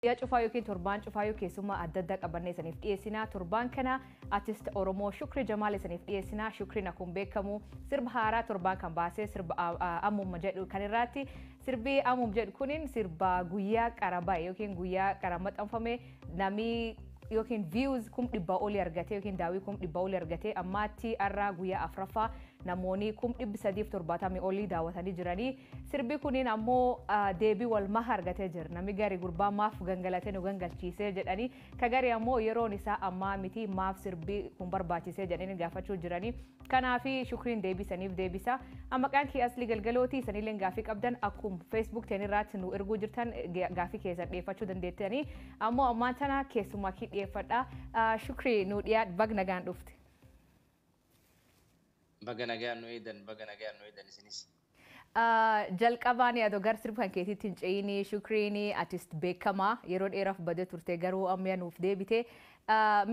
Guyyaa cufaa yookiin torbaan cufaa yoo keessummaa adda addaa qabannee isiniif dhiyeessinaa torbaan kana artist Oromoo Shukri Jamaal isiniif dhiyeessinaa Shukriin akkuma beekamu sirba haaraa torbaan kan baasee sirba ammum jedhu kan irraatti sirbi ammum jedhu kunin sirba guyyaa qara ba'e yookiin guyyaa qara maxxanfame Namni yookiin views kum dhibbaa olii argatee yookiin daawwii kum dhibbaa olii argatee ammaatti har'aa guyyaa afraffaa namoonni kum dhibbi sadiif torbaatamii olii daawwatanii jiranii sirbi kuniin ammoo deebii wal maha argatee jira namni gari gurbaa maaf gangalatee nu gangalchiisee jedhanii ka gari ammoo yeroon isaa ammaa miti maaf sirbi kun barbaachisee jedhanii gaafachuu jiranii Kanaafi shukriin deebii saniif deebisa. An maqaan kiyya Aslii Galgalooti isaniilleen gaafii qabdan akkum Facebook teenirraatti nu erguu jirtan gaafii keessan dhiyeeffachuu dandeettanii ammoo ammaan tana keessummaa kii dhiyeeffadha. Shukrii nu dhiyaadh bag nagaan dhufte. Baga nagaan nu eeydan baga nagaan nu eeydan isinis. Jalqabaani ado gar sirb kan keetitti hin ce'iini shukriini atist beekama yeroo dheeraf bade turte garuu ammya nuuf deebite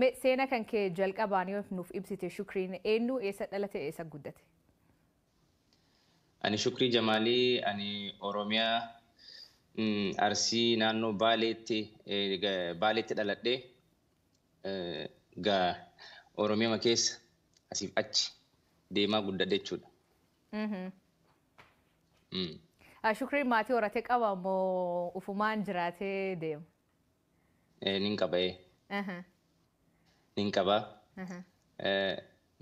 me seena kan kee jalqabaani of nuuf ibsite shukriin eennu eessa dhalate eessa guddate. Ani Shukrii Jamaalii ani Oromiyaa Arsii naannoo Baaleetti Baaleetti dhaladhe egaa Oromiyama keessa asiif achi deemaa guddadhe jechuudha. Shukriin maatii horatee qaba moo ufumaan jiraatee deema? Nin qaba ee. Nin qaba.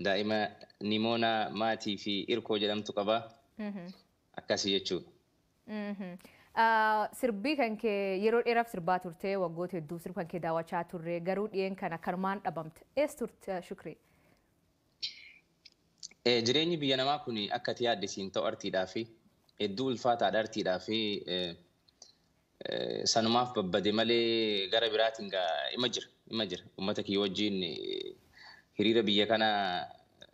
Daa'ima Nimoonaa Maatii fi Irkoo jedhamtu qaba. Akkasii jechuudha. Sirbii kan kee yeroo dheeraaf sirbaa turtee waggoota hedduu sirba kan kee daawwachaa turre garuu dhiyeen kan akkanumaan dhabamte. Ees turte Shukrii? Eh, Jireenyi biyya namaa kun akka ati yaadde siin ta'u artiidhaa fi hedduu ulfaataadha artiidhaa fi eh, eh, sanumaaf babbade malee gara biraatiin gaa ima jira ima jira uummata kiyya wajjin eh, hiriira biyya kana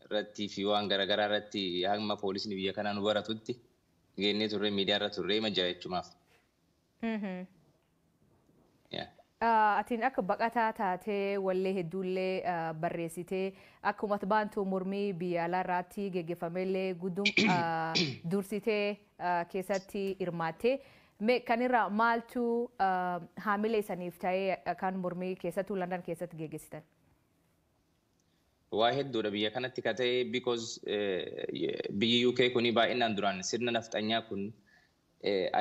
irratti fi waan garaagaraa irratti hamma poolisni biyya kanaa nu baratutti geennee turre miidiyaa irra turre ima jira jechumaaf. Mhm. Atiin akka baqataa taatee wallee hedduullee barreessitee akkuma baantuu mormii biyya alaa irraatti geggeeffamellee guddum dursitee keessatti hirmaattee mee kan irraa maaltu haamilee isaniif ta'ee kan mormii keessattuu Landan keessatti geggeessitan? Waa hedduudha biyya kanatti ka ta'e because biyyi UK kuni baay'inaan duraan sirna nafxanyaa kun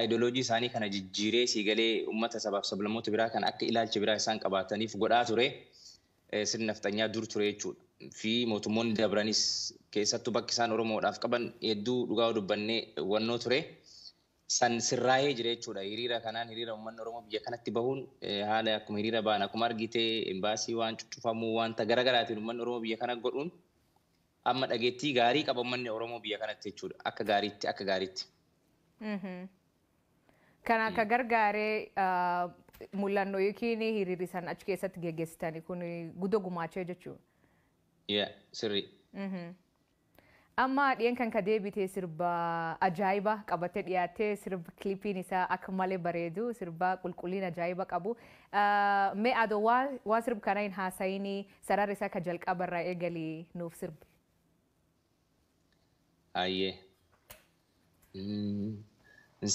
ideology isaanii kana jijjiiree sii galee ummata sabaaf sablammoota biraa kan akka ilaalcha biraa isaan qabaataniif godhaa ture sirni nafxanyaa dur ture jechuudha. Fi mootummoonni dabranis keessattuu bakki isaan Oromoodhaaf qaban hedduu dhugaa dubbannee wannoo ture. san sirraahee jira jechuudha. Hiriira kanaan hiriira ummanni Oromoo biyya kanatti bahuun haala akkuma hiriira bahan akkuma argite embaasii waan cuccufamuu wanta gara garaatiin ummanni Oromoo biyya kana godhuun amma dhageettii gaarii qaba ummanni Oromoo biyya kanatti jechuudha. Akka gaariitti akka gaariitti. Kana akka gargaaree mul'annoo yookiin hiriirri san achi keessatti geggeessitani kun guddoo gumaachee jechuudha. Yaa sirrii. Amma dhiyen kan ka deebite sirba ajaa'iba qabatte dhiyaatte sirb clipiin isaa akka male bareedu sirbaa qulqulliin ajaa'iba qabu mee ado waa waa sirb kana hin haasayini sarar isaa ka jalqaba irraa eegali nuuf sirbi. Hayyee.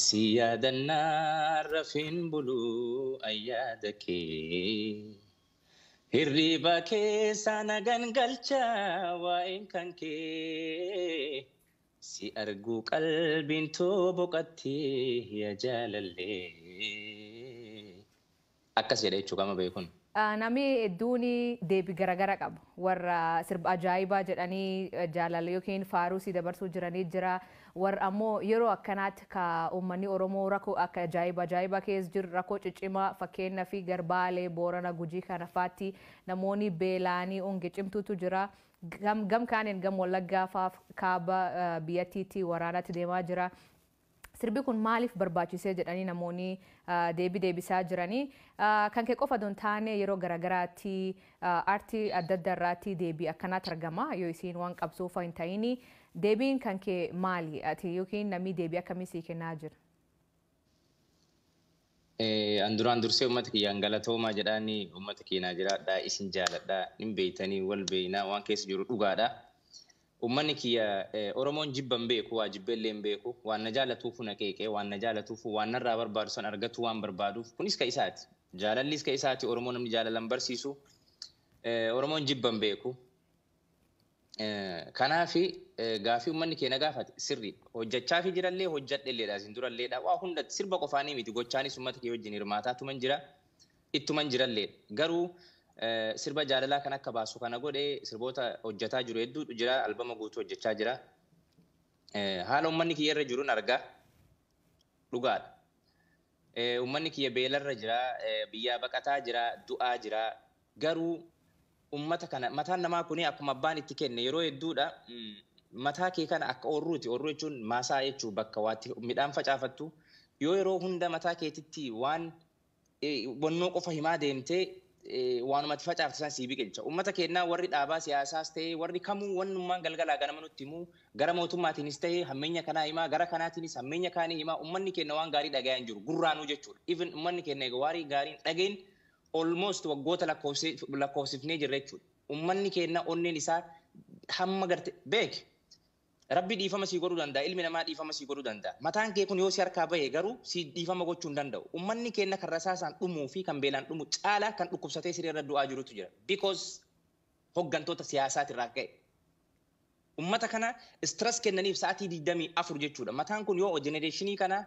Si yaadannaan rafeen bulu an yaada kee. Hirriba keessa na gangalcha waa'een kan kee Si arguu qalbiin too boqatti ya jaalallee Akkas jedha jechuu qaama beekun. Nami hedduun deebi garagara qaba. Warra sirba ajaa'ibaa jedhanii jaalala ykn faaruu sii dabarsuu jiranii jira. Warr ammo yeroo akkanat ka ummanni oromoo rako akka ajaiba ajaiba kees jir rako cicima fakkeennafi gar baale boorana gujii kana faatti namooni beelaani onge cimtuutu jira gam gam kaanin gam wallaggaa faaf kaaba biyyattiitti waraanati deemaa jira sirbi kun maalif barbaachisee jedhani namooni deebi deebisaa jirani kan ke qofa don taane yeroo garagaraatti arti addadda irraatti deebi akkanat argama yoo isiin wan qabsoofa hin taini Deebiin kan kee maali? Ati yookiin namni deebii akkamii sii kennaa jira? An duraan dursee ummata kiyyaan galatoomaa jedhaani ummata keenaa jiraadhaa isin jaaladhaa nin beeytanii wal beeynaa waan keessa jiru dhugaadha ummanni kiyya oromoon jibba hin beeku waa jibbee illee hin beeku waan na jaalatuufu na qeeqee waan na jaalatuufu waan narraa barbaadu san argatuu waan barbaaduuf kunis ka isaati jaalallis ka isaati oromoo namni jaalala hin barsiisu oromoon jibba hin beeku Kanaaf gaafii ummanni keenya gaafate sirrii hojjachaafi jirallee hojjadhelleedha isin duralleedha waa hundatti sirba qofaanii miti gochaanis ummata kee wajjin hirmaataa tuman jira ittuman jiralleedha garuu sirba jaalalaa kan akka baasu kana godhe sirboota hojjataa jiru hedduutu jira albama guutuu hojjachaa jira haala ummanni kiyya irra jirun argaa dhugaadha ummanni kiyya beelarra jira biyyaa baqataa jira du'aa jira Garuu ummata kana mataan namaa kuni akkuma abbaan itti kenne yeroo hedduudha mataa kee kana akka oorruuti oorruu jechuun maasaa jechuu bakka waatti midhaan facaafattu yoo yeroo hunda mataa keetitti waan bonnoo qofa himaa deemte waanuma ati facaafte san sii biqilcha ummata keennaa warri dhaabaa siyaasaas ta'ee warri kamuu wannummaan galgalaa ganama nutti himuu gara mootummaatiinis ta'ee hammeenya kanaa himaa gara kanaatiinis hammeenya kaanii himaa ummanni keenna waan gaarii dhagayaa hin jiru gurraanuu jechuudha even ummanni keenna eega waarii gaariin dhagayin almost waggoota lakkoofsifnee jirra jechuudha. Ummanni keenna onneen isaa hamma garte beeki. Rabbi dhiifama sii godhuu danda'a, ilmi namaa dhiifama sii godhuu danda'a. Mataan kee kun yoo si harkaa bahe garuu sii dhiifama gochuu hin danda'u. Ummanni keenna kan rasaasaan dhumuu fi kan beelaan dhumu caalaa kan dhukkubsatee siree irra du'aa jirutu jira because hoggantoota siyaasaati irraa ka'e. Ummata kana stress kennaniif sa'atii 24 jechuudha. Mataan kun yoo generation kana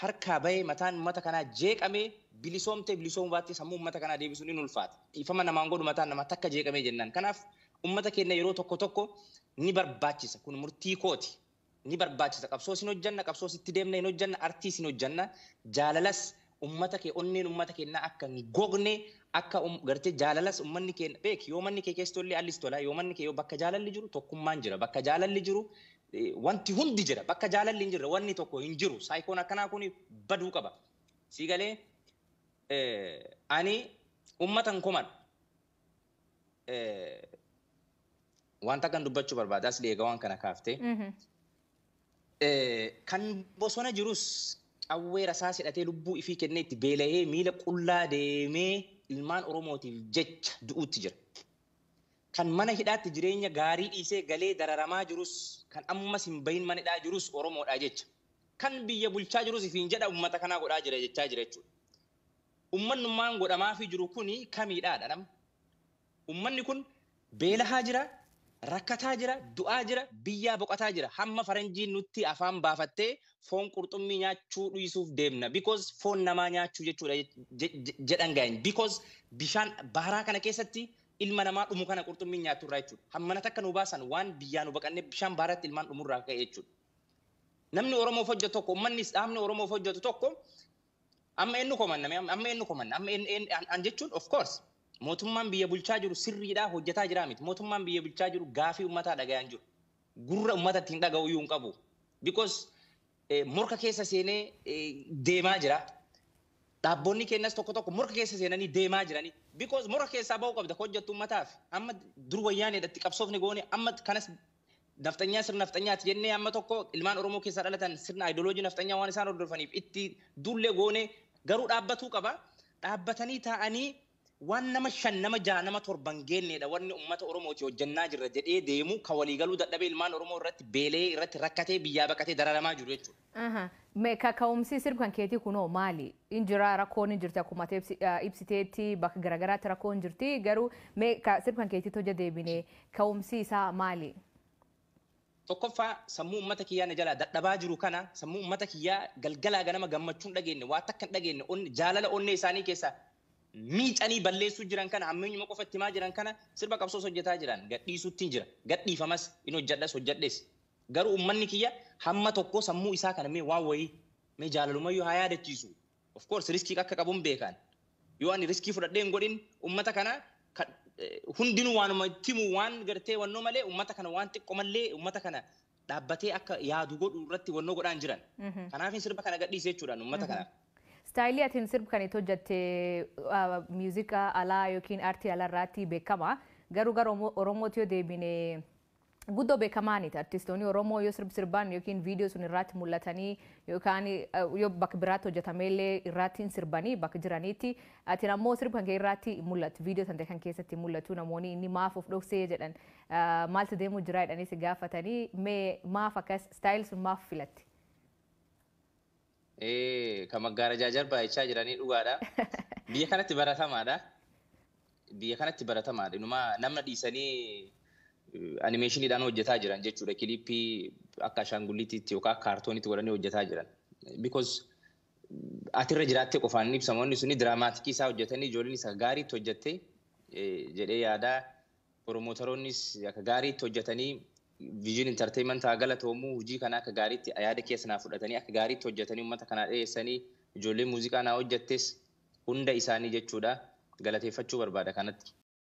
harkaa bahee mataan ummata kanaa jeeqamee bilisoomtee bilisoomuu baattee sammuu ummata kanaa deebisuun in ulfaata. Dhiifama namaan godhu mataan namaa takka jeeqamee jennaan. Kanaaf ummata keenna yeroo tokko tokko ni barbaachisa. Kun murtii kooti. Ni barbaachisa. Qabsoos hin hojjanna, qabsoos itti deemna hin hojjanna, artiis hin hojjanna, jaalalas ummata kee onneen ummata kennaa akka hin gogne akka um, gartee jaalalas ummanni kee beek yoo manni kee keessa tollee allis tola yoo manni kee yoo bakka jaalalli jiru tokkummaan jira bakka jaalalli jiru eh, wanti hundi jira bakka jaalalli hin jirre wanni tokko hin jiru saayikoon akkanaa kun baduu qaba sii galee eh, ani ummata hin komadhu Wanta kan dubbachuu barbaada asli eega waan kana kaafte. Kan bosona jirus qawwee rasaas hidhatee lubbuu ifii kennee itti beelahee miila qullaa deemee ilmaan Oromootiif jecha du'uutti jira. Kan mana hidhaatti jireenya gaarii dhiisee galee dararamaa jirus kan ammas hin bahin mana hidhaa jirus Oromoodhaa jecha. Kan biyya bulchaa jirus ifiin jedha ummata kanaa godhaa jira jechaa jira jechuudha. Ummannummaan godhamaafii jiru kuni kamiidhaa dha nama? Ummanni kun beelahaa jira, rakkataa jira, du'aa jira, biyyaa boqataa jira. Hamma faranjiin nutti afaan baafattee foon qurxummii nyaachuu dhiisuuf deemna because foon namaa nyaachuu jechuu dha jedhan gaa'in because bishaan baharaa kana keessatti ilma namaa dhumu kana qurxummiin nyaattu irraa jechuu dha. Hammana takka nu baasan waan biyyaa nu baqannee bishaan baharatti ilmaan dhumu irraa ka'e jechuu dha. Namni Oromoof hojjetu tokko, ummannis dhaabni Oromoof hojjetu tokko Amma eenyu komanna? Mee Amma amma eenyu komanna? Amma eenyu- eenyu- an an jechuun of course mootummaan biyya bulchaa jiru sirriidhaa hojjetaa jiraa miti. Mootummaan biyya bulchaa jiru gaafii ummataa dhaga'aa hin jiru. Gurra ummata ittiin dhaga'u iyyuu hin qabu. Because eh, morka keessa seenee eh, deemaa jira. Dhaabboonni keenyas tokko tokko morka keessa seenanii deemaa jiranii. Because morka keessaa ba'uu qabda ka hojjettu ummataaf. Amma dur wayyaaneedha itti qabsoofne goone amma kanas Nafxanyaa sirna nafxanyaati jennee amma tokko ilmaan Oromoo keessaa dhalatan sirna ideology nafxanyaa waan isaan hordofaniif itti duullee goonee garuu dhaabbatuu qaba. Dhaabbatanii taa'anii waan nama shan nama jaha nama torba hin geenneedha wanni ummata Oromootii hojjannaa jirra jedhee deemu ka walii galuu dadhabee ilmaan Oromoo irratti beelayee irratti rakkatee biyyaa baqatee dararamaa jiru jechuudha. Aha me kaka'umsii sirb kan keetii kunoo maali in jiraa rakkoon in jirti akkuma ati ibsi- ah, ibsiteetti bakka garagaraatti rakkoon jirti garuu me ka sirb kan keetiitti hojja deebine ka'umsii isaa maali? Tokkoffaa sammuu ummata kiyyaa na jalaa dadhabaa jiru kana sammuu ummata kiyyaa galgalaa ganama gammachuu hin dhageenye waa takka hin dhageenye onne- jaalala onnee isaanii keessaa miicanii balleessuu jiran kana hammeenyuma qofa itti himaa jiran kana sirba qabsoos hojjetaa jiran gadhiisuuttiin jira gadhiifamas in hojjedhas hojjedhes Garuu ummanni kiyya hamma tokkoo sammuu isaa kana mee waan wayii mee jaalalumayyuu haa yaadachiisu. Of course riskii akka qabun beekaan. Yoo ani riskii fudhadhee hin godhin ummata kana ka hundinuu waanuma itti himu waan gartee wannoo malee ummata kana waan xiqqomallee ummata kana dhaabbatee akka yaadu godhu irratti wannoo godhaa hin jiran. Kanaafin sirba kana gadhiise jechuudhaan ummata kanaaf. Style atin sirb kan itti hojjatte musica alaa yookiin artii alarraatti beekama. Garuu gara Oromootti yoo deebine Guddoo bekamaaniti artistooni oromoo yoo sirb sirbaan yookiin video sun irraatti mul'atanii yookaan yoo bak biraatti hojjatameellee irraatti hin sirbanii bak jiraniitti atin ammoo sirb kan kee irraatti hin mul'attu video tante kan keessatti hin mul'atu namooni inni maaf of dhoksee jedhan maaltu deemuu jiraa jedhanii si gaafatanii mee maaf akkas style sun maaf filatte. Ee, kan maggaarajaa jarbaa jechaa jiranii dhugaadha. Biyya kanatti baratamaadha. Biyya kanatti baratamaadha. Inumaa namna dhiisanii eh, animeeshiniidhaan hojjetaa jiran jechuudha. Kiliippii akka ashaangulliitiitti yookaan akka kaartooniitti godhanii hojjetaa jiran. Because mm, ati irra jiraattee qofaan hin ibsamu. Wanni suni diraamaatikii isaa hojjetanii ijoolleen isa gaariitti hojjette eh, jedhee yaadaa. Promootaroonnis akka gaariitti hojjatanii Vision Entertainment haa galatoomu hojii kana akka gaariitti yaada keessa naa fudhatanii akka gaariitti hojjatanii uummata kanaa dhiyeessanii ijoolleen muuziqaa naa hojjattes hunda isaanii jechuudha galateeffachuu barbaada kanatti.